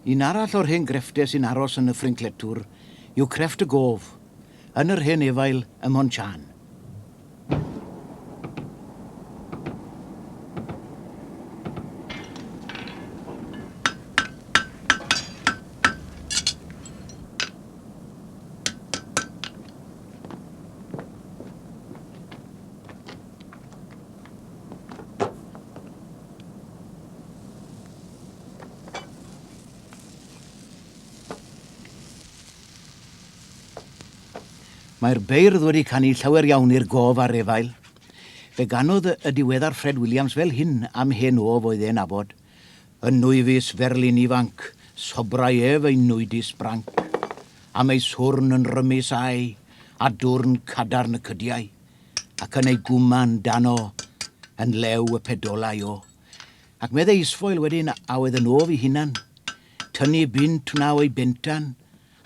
Un arall o'r hen grefftau sy'n aros yn y Ffrincletwr yw crefft y gof, yn yr hen efail ym Mhon-chan. Mae'r beirdd wedi canu llawer iawn i'r gof a'r efail. Fe ganodd y diweddar Fred Williams fel hyn am hen of oedd e'n nabod. Yn nwyfus ferlyn ifanc, sobrai ef ei nwydus branc. Am ei swrn yn rymus a'i, a dwrn cadarn y cydiai. ac yn ei gwman dano yn lew y pedolau o. Ac meddai Isfoel wedyn a oedd yn of i hunan, Tynu bunt wna o'i bentan,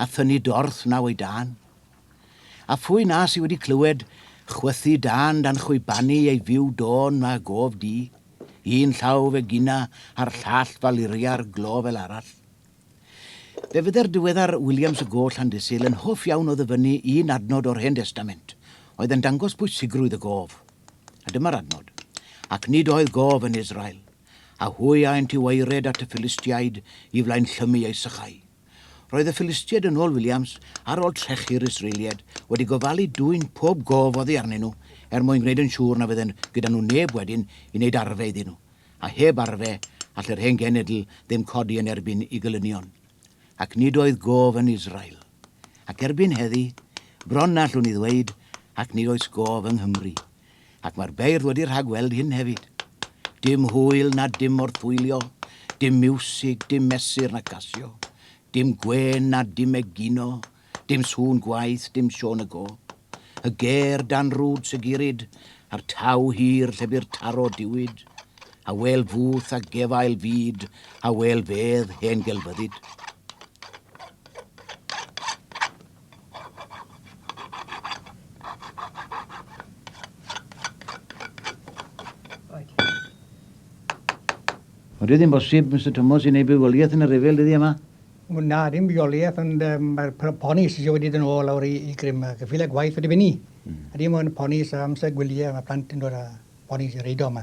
a thynu dorth wna o'i dan. A phwy na sy wedi clywed chwythu dan dan chwibanu ei fyw dôn wna gof di, un llaw fe gina a'r llall faluria'r glo fel arall. Fe fydde'r diweddar Williams y Goch Llandysul yn hoff iawn o ddyfynnu un adnod o'r Hen Destament oedd yn dangos pwysigrwydd y gof. A dyma'r adnod, Ac nid oedd gof yn Israel, a hwy aent i waered at y Philistiaid i flaen llymu eu sychau. Roedd y Philistiaid, yn ôl Williams, ar ôl trechu'r Israeliaid, wedi gofalu dwyn pob gof oddi arnyn nhw er mwyn gwneud yn siŵr na fydden gyda nhw neb wedyn i wneud arfe iddyn nhw. a heb arfe all yr hen genedl ddim codi yn erbyn i gelynion. Ac nid oedd gof yn Israel. Ac erbyn heddi, bron na allwn i ddweud, ac nid oes gof yng Nghymru. Ac mae'r beirdd wedi rhagweld hyn hefyd. Dim hwyl na dim morthwylio, dim miwsig, dim mesur na gasio, dim gwên na dim egino, Dim sŵn gwaith, dim Siôn y Gôp. Y ger dan rwd Sigurid, a'r taw hir lle bu'r taro diwyd. Awel fwth a gefail fyd, awel fedd hen gelfyddyd. Ond dydy hi'n bosib, Mister Tomos, i wneud bywoliaeth yn y rhyfel dyddie 'ma? Na, dim rheoliaeth, ond mae'r ponis eisiau wedi dod yn ôl lawr i grym, ac y ffiled gwaith wedi fyny. A dim ond ponis a amser gwyliau, mae plant yn dod â ponis i'r eiddo yma.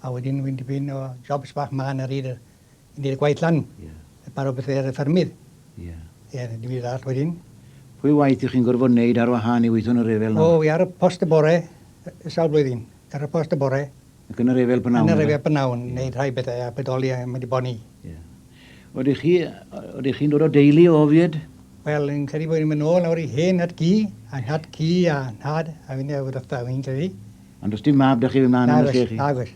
A wedyn wy'n dipyn o jobs bach mân ar hyd y gwaith lan, paro bethau ar y ffermydd. Ie. Ie, dim byd arall wedyn. Pwy waith ych chi'n gorfod wneud ar wahân i weithio yn y rhyfel nawr? O, wi ar y post y bore, sawl blwyddyn, ar y post y bore, Ac yn yr efel bnawn. Yn yr efel bnawn, wneud rhai bethau a bodoli a mynd i boni. Yeah. Oeddech chi, oeddech chi'n dod o deulu o ofied? Wel, yn credu bod ni'n mynd nôl nawr i hen nhad cu, a nhad cu a nhad, a fynd o'r wrtha, fi'n credu. Ond os dim mab da chi fy mlaen yn chi? Nag oes,